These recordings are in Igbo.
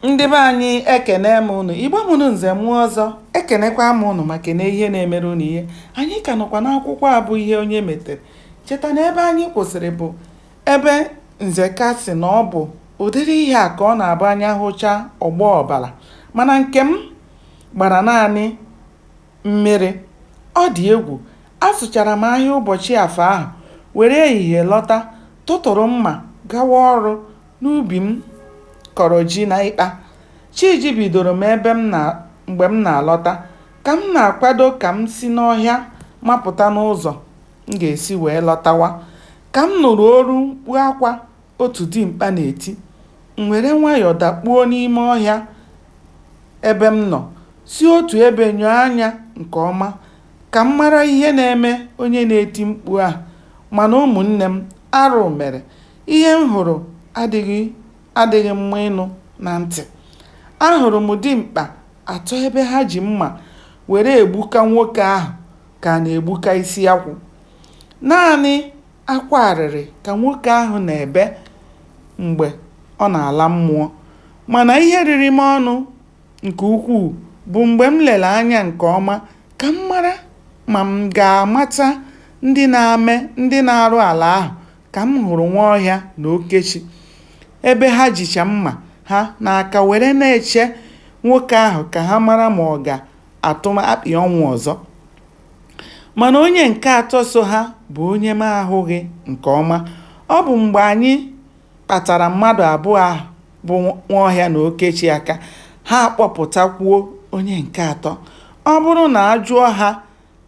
ndị be anyị ekene m ụnụ igbo mụrụ nze mụọ ọzọ ekenekwa m ụnụ ma kene ihe na-emere ụnụ ihe anyị ka nọkwa n'akwụkwọ a bụ ihe onye metere cheta na ebe anyị kwụsịrị bụ ebe nzeka sị na ọ bụ ụdịrị ihe a ka ọ na-abụ anya hụcha ọ gbaa ọbara mana nke m gbara naanị Mmiri, Ọ dị egwu! Azụchara m ahịa ụbọchị Afọ ahụ, were ehihie lọta, tụtụrụ mma gawa ọrụ n'ubi m kọrọ ji n'ịkpa. Chi jibidoro m ebe m na mgbe m na-alọta. Ka m na-akwado ka m si n'ọhịa mapụta n'ụzọ m ga-esi wee lọtawa, ka m nụrụ olu mkpu akwa otu dimkpa na-eti. M were nwayọọ dakpuo n'ime ọhịa ebe m nọ, si otu ebe nyoo anya nke ọma ka m mara ihe na-eme onye na-eti mkpu a. Mana ụmụnne m, arụ mere. Ihe m hụrụ adịghị mma ịnụ na ntị. Ahụrụ m dimkpa atọ ebe ha ji mma were egbuka nwoke ahụ ka a na-egbuka isi akwụ. Naanị akwa arịrị ka nwoke ahụ na-ebe mgbe ọ na-ala mmụọ. Mana ihe riri m ọnụ nke ukwuu bụ mgbe m lere anya nke ọma ka m mara ma m ga-amata ndị na-ame ndị na-arụ ala ahụ ka m hụrụ Nwaọhịa na Okechi ebe ha jicha mma ha n'aka were na-eche nwoke ahụ ka ha mara ma ọ ga-atụ akpị ọnwụ ọzọ. Mana onye nke atọ so ha bụ onye m ahụghị nke ọma. Ọ bụ mgbe anyị kpatara mmadụ abụọ ahụ bụ Nwaọhịa na Okechi aka, ha akpọpụtakwuo onye nke atọ. Ọ bụrụ na a jụọ ha,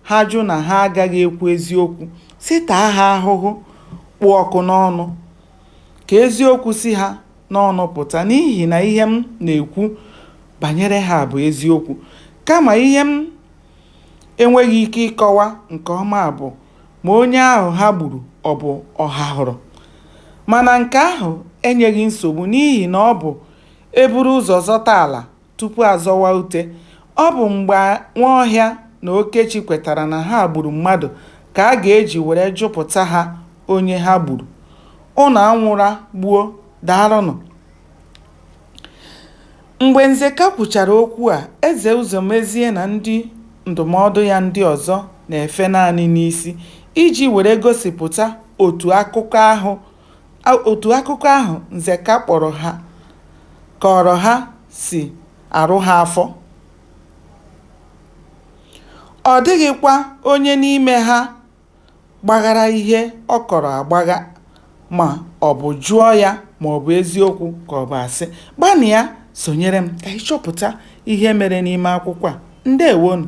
ha jụ na ha agaghị ekwu eziokwu, sị taa ha ahụhụ kpụ ọkụ n'ọnụ. Ka eziokwu si ha n'ọnụ pụta n'ihi na ihe m na-ekwu banyere ha bụ eziokwu. Kama ihe m enweghị ike ịkọwa nke ọma bụ ma onye ahụ ha gburu ọ bụ Ọhahụrụ. Mana nke ahụ enyeghị nsogbu n'ihi na ọ bụ e buru ụzọ zọta ala tupu a zọwa ute. Ọ bụ mgbe Nwaọhịa na Okechi kwetara na ha gburu mmadụ ka a ga-eji were jụpụta ha onye ha gburu. Ụnụ anwụla gboo, daalụnụ. Mgbe Nzeka kwuchara okwu a, Eze Ụzọmezie na ndị ndụmọdụ ya ndị ọzọ na-efe naanị n'isi iji were gosipụta otu akụkọ ahụ Nzeka kpọrọ ha kọọrọ ha si arụ ha afọ. Ọ dịghịkwa onye n'ime ha gbaghara ihe ọ kọrọ agbagha ma ọ bụ jụọ ya ma ọ bụ eziokwu ka ọ bụ asị. Gbanịa sonyere m ka anyị chọpụta ihe mere n'ime akwụkwọ a. Ndeewonụ.